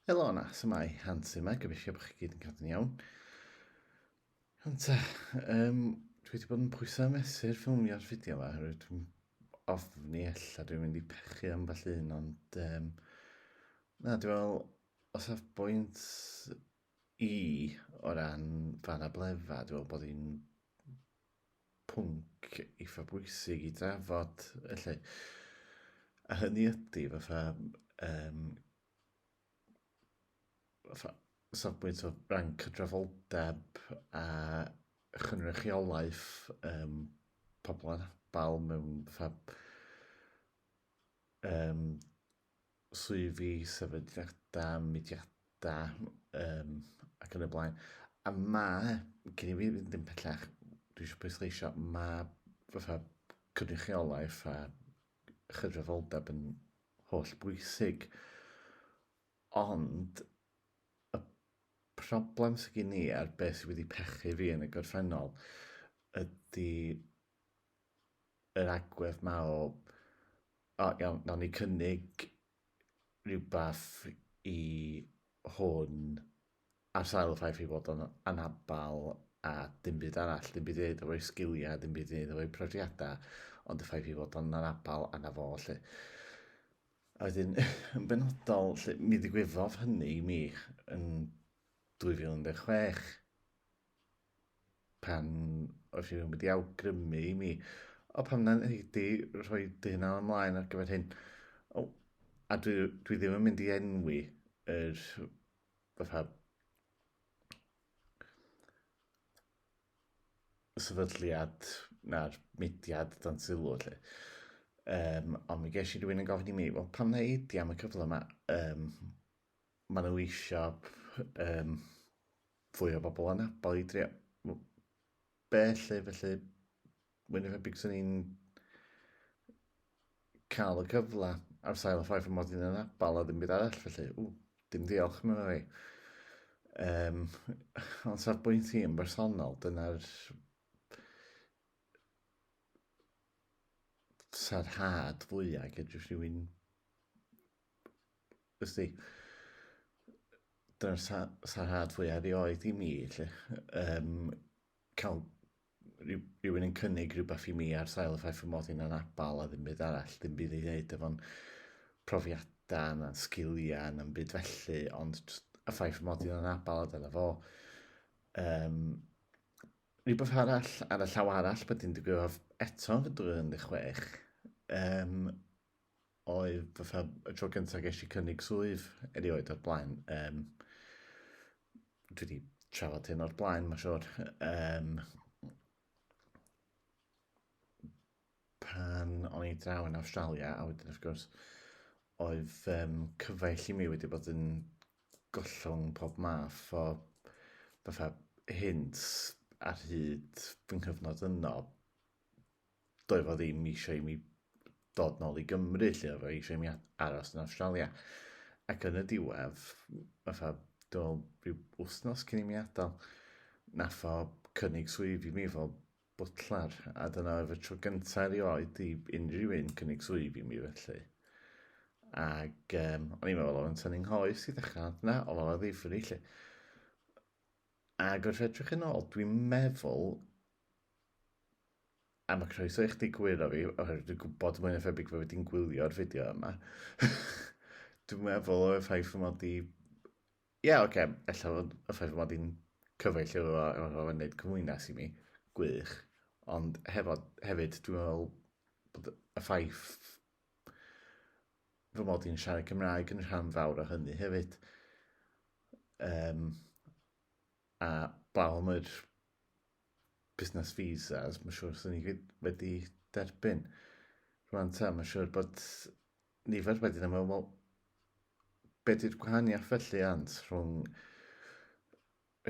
Helo yna, sy'n mae Hans yma, gobeithio bod chi gyd yn cadw'n iawn. Ond ta, um, dwi wedi bod yn pwysau mesur ffilmio'r fideo yma, oherwydd dwi'n ofni ella dwi'n mynd i pechu am falle un, ond um, na, dwi'n meddwl, o safbwynt i o ran fan a blefa, dwi'n meddwl bod hi'n pwnc eitha bwysig i drafod, felly. A hynny ydy, fatha, um, fatha safbwynt o ran cydraddoldeb a chynrychiolaeth um, pobl anabl mewn fatha, um, swyddi, sefydliadau, mudiadau um, ac yn y blaen. A mae, gen i fi fynd yn pellach, dwi eisiau pwysleisio, mae fatha cynrychiolaeth a chydraddoldeb yn holl bwysig. Ond y problem sydd gen i a'r beth sydd wedi pechu fi yn y gorffennol ydy yr agwedd ma o, o iawn, nawn ni cynnig rhywbeth i hwn ar sail y ffaith ei fod o'n anabl a dim byd arall, dim byd i wneud efo'i sgiliau, dim byd i wneud efo'i profiadau, ond y ffaith ei fod o'n anabl anna fo, lle. A wedyn, yn benodol, lle, mi ddigwyddodd hynny i mi yn 2016. pan oedd rhywun wedi awgrymu i mi, o pam na'n heidi rhoi dy hunan ymlaen ar gyfer hyn. O, a dwi, dwi ddim yn mynd i enwi yr fatha sefydliad na'r mudiad dan sylw lle. Um, ond mi ges i rhywun yn gofyn i mi, wel pam na heidi am y cyfle yma? Um, Mae nhw eisiau yym fwy o bobl anabl i drio m- be lle felly mwy na thebyg sy'n ni'n cael y cyfle ar sail y ffaith fy mod i'n anabl a ddim byd arall felly ww dim diolch mae'n rhai. Um, ond sa'r bwynt i yn bersonol, dyna'r sarhad fwyaf gyda rhywun Wrth i, dyna'r sa, sarhad fwyaf erioed i mi, lle, um, cael rhywun yn cynnig rhywbeth i mi ar sail y ffaith fy mod i'n anabal a ddim byd arall, ddim byd i ddeud efo'n profiadau na'n sgiliau na'n byd felly, ond y ffaith fy mod i'n anabal a dyna fo. Um, rhywbeth arall ar y llaw arall bod i'n digwydd eto fy 26, um, oedd fatha y tro gyntaf ges i cynnig swydd erioed o'r blaen. Um, dwi wedi trafod hyn o'r blaen, mae'n siwr. Um, pan o'n i draw yn Australia, a wedyn wrth gwrs, oedd um, cyfaill i mi wedi bod yn gollwng pob math o fatha hint ar hyd fy nghyfnod yno doedd o ddim eisiau i mi dod nôl i Gymru, lle oedd o eisiau i mi aros yn Australia. Ac yn y diwedd, fatha, dwi'n rhyw wythnos cyn i mi adael, nath o cynnig swydd i mi fel butler, a dyna oedd y tro gyntaf erioed i unrhyw un cynnig swydd i mi felly. Ac um, o'n i'n meddwl oedd yn tynnu'n nghoes i ddechrau, ond na, oedd o'n ddifri lle. Ac wrth edrych yn ôl, dwi'n meddwl A mae croeso i chdi gwiro fi, oherwydd dwi'n gwybod mwy na thebyg fod wedi'n gwylio'r fideo yma. dwi'n meddwl o'r ffaith fy mod i... Ie, yeah, oce, okay. ella fod y ffaith fy mod i'n cyfaill efo fo, efo fo yn neud cymwynas i mi, gwych. Ond hefo, hefyd, dwi'n meddwl bod y ffaith fy mod i'n siarad Cymraeg yn rhan fawr o hynny hefyd. Um, a blaw am yr busnes visas, mae'n siŵr sy'n ni gyd wedi derbyn. Rwan ta, mae'n siŵr bod nifer wedi ddim yn meddwl, beth yw'r gwahaniaeth felly ant rhwng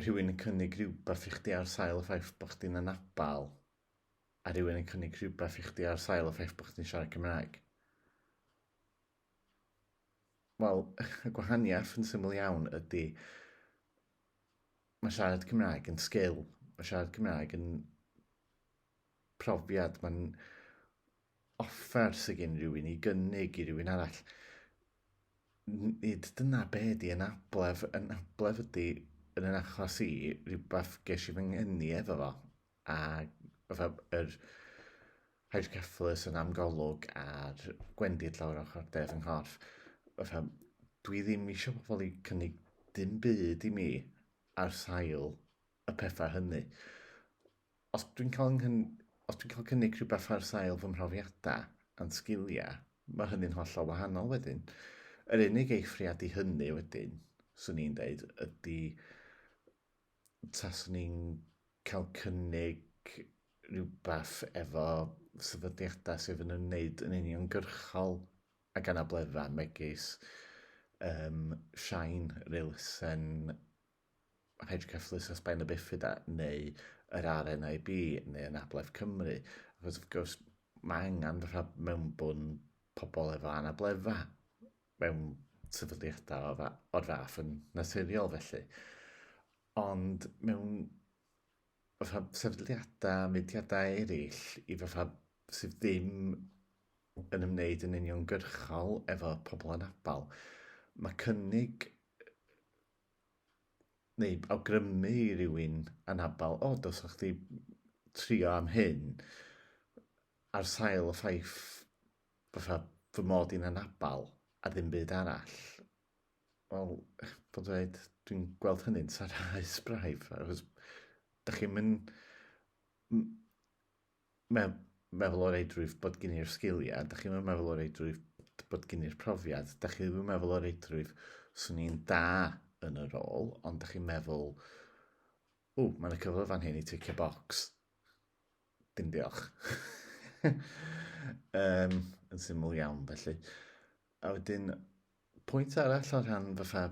rhywun yn cynnig rhywbeth i chdi ar sail y ffaith bod chdi'n anabal a rhywun yn cynnig rhywbeth i chdi ar sail y ffaith bod chdi'n siarad Cymraeg? Wel, y gwahaniaeth yn syml iawn ydy Mae siarad Cymraeg yn sgil, mae siarad Cymraeg yn profiad, mae'n offer sydd gen rhywun i gynnig i rhywun arall. Nid dyna be di yn ablef, yn ablef ydy yn yn achos i rhywbeth ges i fy ngeni efo fo. a fatha yr hydrocephalus yn am golwg a'r gwendid lawr ochr de fy nghorff. Fatha, dwi ddim eisiau pobl i cynnig dim byd i mi ar sail y pethau hynny. Os dwi'n cael nghyn... os dwi'n cael cynnig rhywbeth ar sail fy mhrofiadau a'n sgiliau, mae hynny'n hollol wahanol wedyn. Yr unig eithriad i hynny wedyn, swn i'n deud, ydy Taswn ni'n cael cynnig rhywbeth efo sefydliadau sydd yn ymwneud yn uniongyrchol ag anableddau, megis yym Shine, yr elusen hydroceffylaethau sbaen a bifida, neu yr RNIB, neu Anabledd Cymru, achos wrth gwrs mae angen rha- mewnbwn pobl efo anableddau. mewn sefydliadau o'r, o'r fath yn naturiol felly. Ond mewn fatha sefydliadau, mudiadau eraill, i fatha sydd ddim yn ymwneud yn uniongyrchol efo pobl anabl, mae cynnig neu awgrymu i rywun anabl, o, dos o'ch chi trio am hyn, ar sail y ffaith fatha fy mod i'n anabal a ddim byd arall, wel, bod yn dweud, dwi'n gweld hynny'n sarhaus braidd, achos dych chi'n mynd me meddwl o reidrwydd bod gen i'r sgiliau, dych chi'n meddwl o reidrwydd bod gen i'r profiad, dych chi'n meddwl o reidrwydd swn i'n da yn y rôl, ond dych chi'n meddwl, ww, mae'n y cyfle fan hyn i ticio bocs, Dim diolch. um, yn syml iawn, felly. A wedyn, pwynt arall o rhan fatha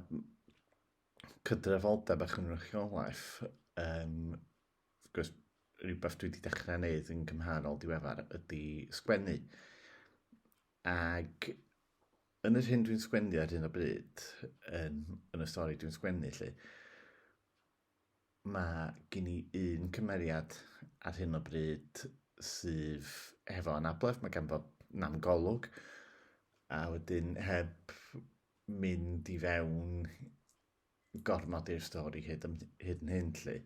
cydrefoldeb a chynrychiolaeth, um, gwrs, rhywbeth dwi wedi dechrau wneud yn gymharol diweddar ydy sgwennu. Ac yn yr hyn dwi'n sgwennu ar hyn o bryd, yn, yn y stori dwi'n sgwennu, lle, Mae gen i un cymeriad ar hyn o bryd sydd hefo anabledd, mae ganddo nam golwg, a wedyn heb mynd i fewn gormod i'r stori hyd, yn, hyd yn hyn lle,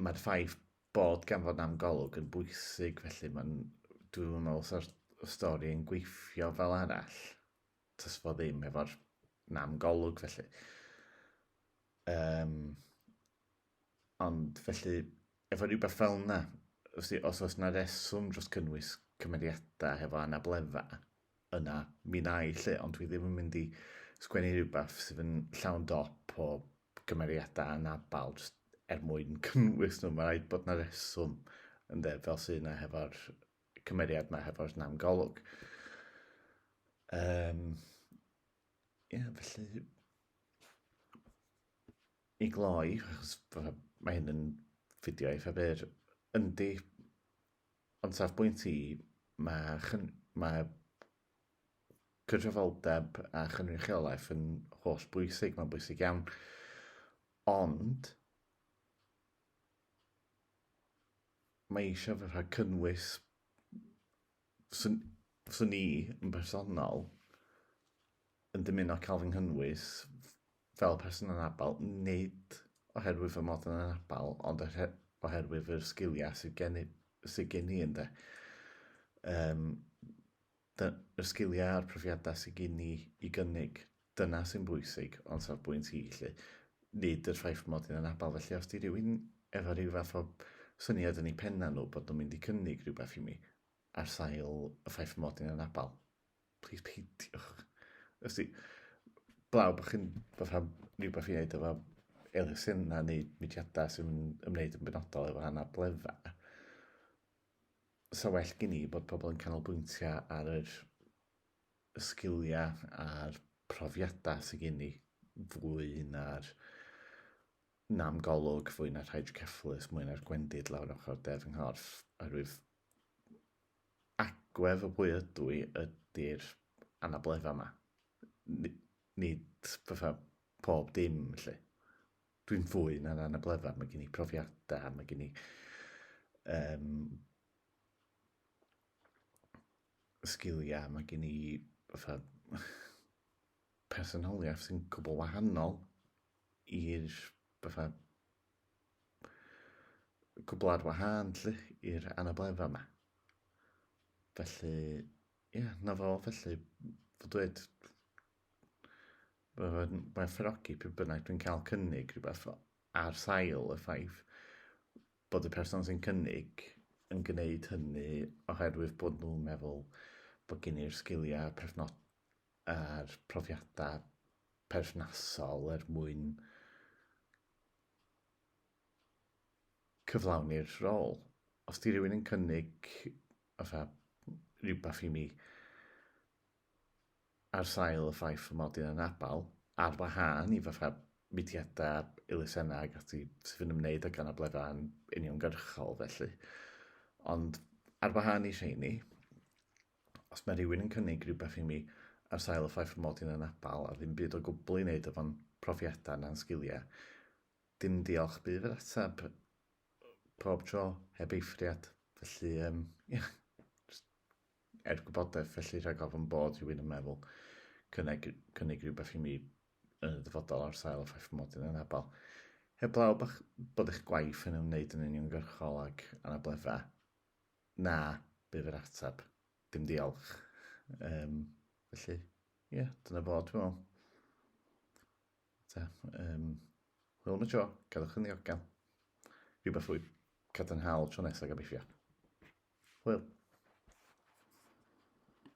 mae'r ffaith bod gan fod am golwg yn bwysig, felly mae'n, dwi'n meddwl sa'r stori yn gweithio fel arall. does fo ddim efo'r nam golwg felly. Um, ond felly, efo rhywbeth fel yna, os, os oes yna reswm dros cynnwys cymeriadau hefo anabledda, yna mi na i lle, ond dwi ddim yn mynd i sgwennu rhywbeth sydd yn llawn dop o gymeriadau anabal just er mwyn cynnwys nhw. Mae rhaid bod yna reswm yn dde fel sy'n yna hefo'r cymeriad yma hefo'r nam golwg. Um, ie, yeah, felly... I gloi, achos mae hyn yn fideo eitha byr, yndi, ond saf bwynt i, mae, chyn, mae cydrefaldeb a chynrychiolaeth yn holl bwysig, mae'n bwysig iawn. Ond, mae eisiau fy rhag cynnwys swn, swn i yn bersonol yn dymuno cael fy nghynnwys fel person anabl, nid oherwydd fy mod yn anabl, ond oherwydd yr sgiliau sydd gen i, sydd gen i ynde. Um, Dyna'r sgiliau a'r profiadau sydd gen i i gynnig, dyna sy'n bwysig o'n safbwynt i 'lly, nid yr ffaith mod i'n anabl, felly os 'di rhywun efo rhyw fath o syniad yn eu pennau nhw bod nhw'n mynd i cynnig rhywbeth i mi ar sail y ffaith mod i'n anabl, plis peidiwch. Os 'di, 'blaw bod chi'n bod rhan rhywbeth i wneud efo elusennau neu mudiadau sy'n ymwneud yn benodol efo anableddau, 'sa well gen i bod pobl yn canolbwyntio ar yr sgiliau a'r profiadau sydd gen i fwy na'r nam golwg, fwy na'r rhaid cefflus, mwy na'r gwendid lawr ochr de fy nghorff, oherwydd agwedd o bwy ydw i ydy'r anabledda yma. Nid fatha pob dim, felly. Dwi'n fwy na'n anableddfa, mae gen i profiadau, mae gen i um, sgiliau, mae gen i fatha personoliaeth sy'n cwbl wahanol i'r fatha cwbl ar wahân lle i'r anabledda yma. Felly, ie, yeah, na fo, felly, fod dweud, Mae fy ngwerthfawrogi pryd bynnag dwi'n cael cynnig rhywbeth ar sail y ffaith bod y person sy'n cynnig yn gwneud hynny oherwydd bod nhw'n meddwl bod gen i'r sgiliau perthno- a'r profiadau perthnasol er mwyn cyflawni'r rôl. Os 'di rhywun yn cynnig fatha rhywbeth i mi ar sail y ffaith fy mod i'n anabl, ar wahân i fatha mudiadau a elusennau ac ati sydd yn ymwneud ag anableddau'n uniongyrchol felly. Ond ar wahân i rheini, os mae rhywun yn cynnig rhywbeth i mi ar sail y ffaith fy mod i'n anabl a ddim byd o gwbl i wneud efo'n profiadau na'n sgiliau, dim diolch bydd yr ateb pob tro, heb eithriad. Felly, um, ia, er gwybodaeth felly rhag ofn bod rhywun yn meddwl cynnig, cynnig rhywbeth i mi yn y dyfodol ar sail y ffaith fy mod i'n anabl. Heblaw bach bod eich gwaith yn ymwneud yn uniongyrchol ag anableddau, na, bydd yr ateb, dim diolch. Um, felly, ie, yeah, dyna fo, dwi'n meddwl. Ta, um, hwyl am y tro, gadwch yn ddiogel. Rhywbeth fwy cadarnhaol tro nesaf gobeithio. Hwyl.